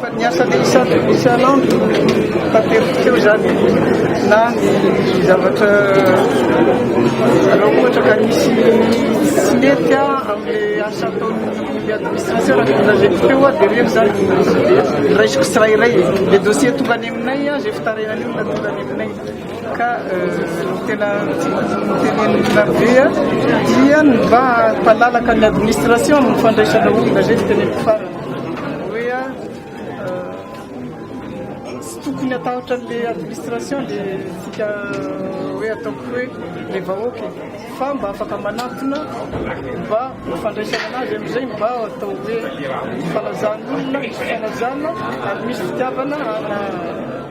Fa ny asa dia isan'ny misy anao no tateriko eo zany na ny zavatra raha ohatra ka nisy tsy mety amin'ny asa ataon'ny administration raha ny lazaiko teo dia reny zany raisiko tsirairay le dossier tonga any aminay zay fitarainan'io na tonga any aminay ka tena tenenin'olona be dia ny mba hampalalaka ny administration amin'ny fandraisana olona zay no teneniko farany hoe tsy tokony hatahotra an'le administration le tsika hoe ataoko hoe le vahoaka fa mba afaka manantona mba fandraisana anazy amin'izay mba atao hoe fanazan'olona misy fanazana ary misy fitiavana ana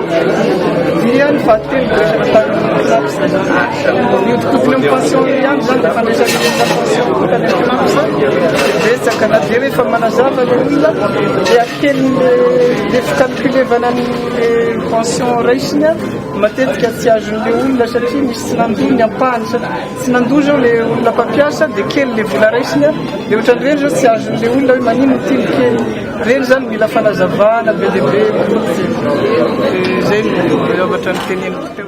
Dia ny vaditeny no resaka tamin'ny mihodinkodina amin'ny pension ihany izany dia fandraisana ny resaka pension voatan'ny betsaka na dia rehefa manazava ny olona dia kely le fikalkulevana ny pension raisiny matetika tsy azon'ilay olona satria misy tsy nandoa ny ampahany satria tsy nandoa izao ilay olona mpampiasa dia kely ilay vola raisiny dia ohatran'ireny izao tsy azon'ilay olona hoe manino ity ny kely Reny zany mila fanazavana be dia be kokoa dia zay no zavatra noteneniko teo.